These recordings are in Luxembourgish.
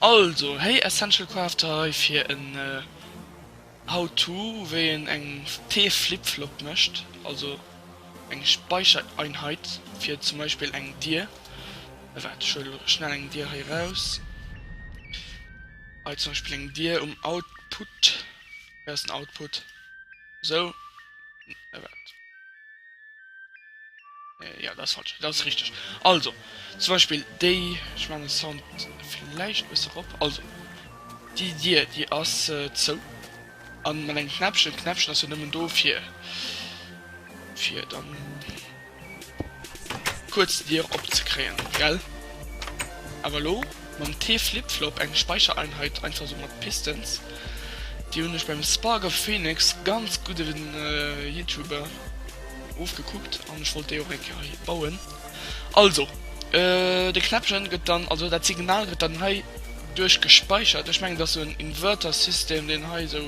Also héi Essential Crafter hei fir en How to wéi een eng T-Flip-Flop mécht, also eng Speichereinheit fir zum Beispill eng Dier. Waart ech huele schnell eng Dier hei raus, hei zum Beispill eng Dier um Output, wou ass den Output, esou, waart. Äh, jo, dat ass falsch. Dat ass richteg. Also, zum Beispill déi, ech maachen de Sound vläicht e bësse rop. Also, déi Dier, déi ass äh, zou. A mat engem Knäppchen, d'Knäppchen ass jo nëmmen do fir, fir dann kuerz d'Dier opzekréien, gell? Awer lo. Mam T-Flip-Flop, eng Speichereinheit einfach sou mat Pistons, déi hunn ech beim Spark of Phoenix, ganz gudden Youtuber, ofgekuckt an ech wollt déi och eng Kéier hei bauen. Also de Knäppchen gëtt dann, also dat Signal gëtt dann hei duerch gespeichert, ech mengen et ass sou en Inverter-System deen hei sou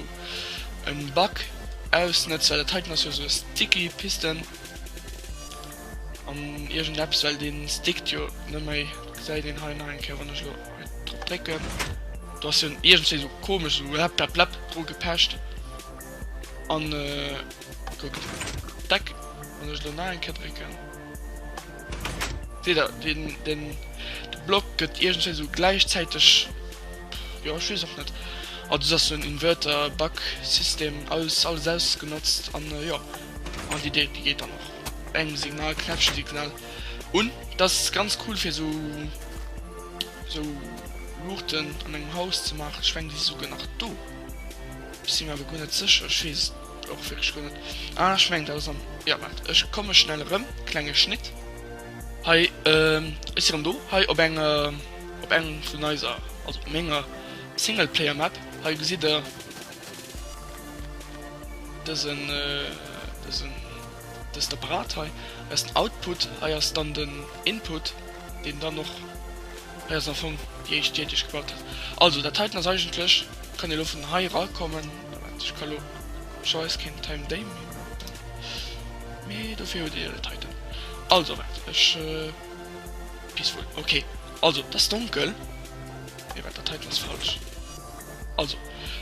en Bug ausnëtzt, well dat heiten ass jo sou e sticky Piston. An irgend eppes well den stickt jo net méi, gesäit een hei nach eng Kéier wann ech lo hei drop drécken. Do ass hien iergendswéi sou komesch sou läpp läpp läpp dru gepecht an kuckt deck. Wann ech lo nach eng Kéier drécken seet der den den de Block gëtt iergendswéi sou gläichzäiteg jo ech weess och net. Also dat ass sou en Inverter Bug System aus alles ausgenotzt an jo. An déi déck déi geet dann och bei engem Signal, Knäppchensignal un. Dat ass ganz cool fir esou esou Luuchten an engem Haus ze maachen. Ech mengen déi si souguer nach do. Ech si mir awer guer net sécher, ech weess et och wierklech guer net. Ah ech mengen dat ass am, jo waart ech komme schnell erëm, klenge Schnitt. Hei, ech si erëm do, hei op eng op engem vun eiser, also op menger Singleplayer Map. Hei gesitt der. Dësen dësen dëst Apparat hei ass den Output, hei ass dann den Input, deen dann och hei ass am Fong déi éischt Dier, déi ech gebaut hat. Also dat heiten ass eigentlech, kann ee lo vun hei erakommen, Moment, ech ka lo scheiss keen Time Day méi maachen, mee dofir huet Dir dat heiten. Also waart, ech peaceful, ok, also et ass donkel, nee waart, dat heiten ass falsch. Also,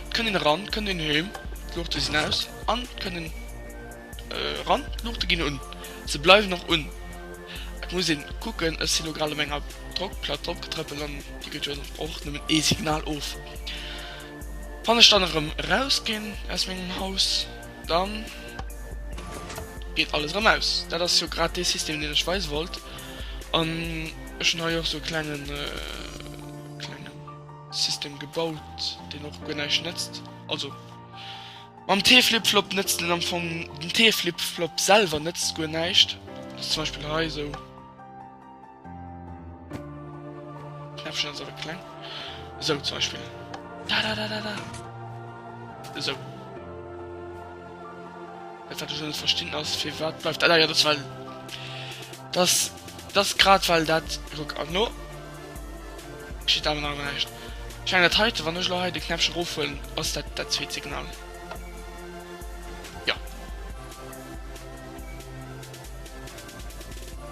et kënnt een eran, et kënnt een heem, d'Luuchte sinn aus an et kënnt een eran, d'Luuchte ginn un, se bleiwen och un. Et muss ee kucken, ech sinn elo grad op enger Drockplack dropgetrëppelt an déi gëtt jo och nëmmen ee Signal of. Wann ech dann erëm erausginn aus mengem Haus, da geet alles erëm aus. Dat ass jo grad dee System, deen ech weise wollt. An ech hunn hei och esou e klengen, klenge. System gebaut deen och guer näischt nëtzt, also mam T-Flipflop nëtzt en am Fong, den T-Flipflop selwer nëtzt guer näischt, also zum Beispill hei esou. Knäppchen ass awer kleng, esou zum Beispill. Da da da da da. Esou. Dat wat ech net verstinn ass fir wat bleift. Ah, ja, dat well. Das, das grad well dat Ruck an no. Steet awer nach näischt. Ech mengen dat heiten, wann ech elo hei de Knäppchen erofhuelen, ass dat dat zweet Signal. Jo.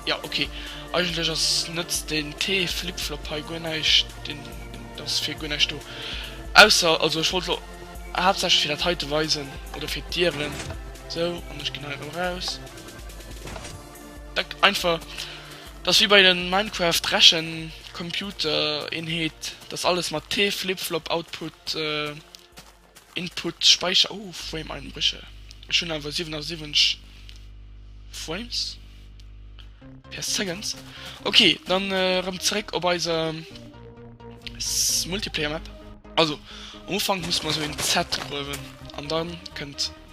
Jo, okay. Eigentlech ass net den T-Flip-Flop hei guer näischt, deen ass fir guer näischt do. Ausser, also ech wollt elo haaptsächlech fir dat heite weisen oder fir d'Dieren. Sou, an ech ginn hei erëm eraus. Denkt einfach, dass wéi bei den Minecraft Rechen Computer Eenheet, dass alles mat T Flip Flop Output Input Speicher oh Frame Einbrüche, ech hun awer 77 Frames per Seconds, ok dann erem zeréck op eiser Multiplayer Map. Also am Ufank muss mer sou een Z gruewen an dann kënnt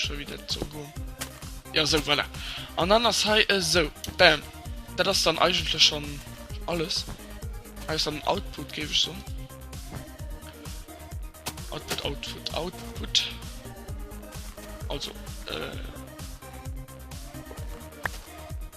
schon wieder zu go ja so voilà. an dann das he äh, so bam da das dann eigentlich schon alles als dann output gebe ich so output output output also äh,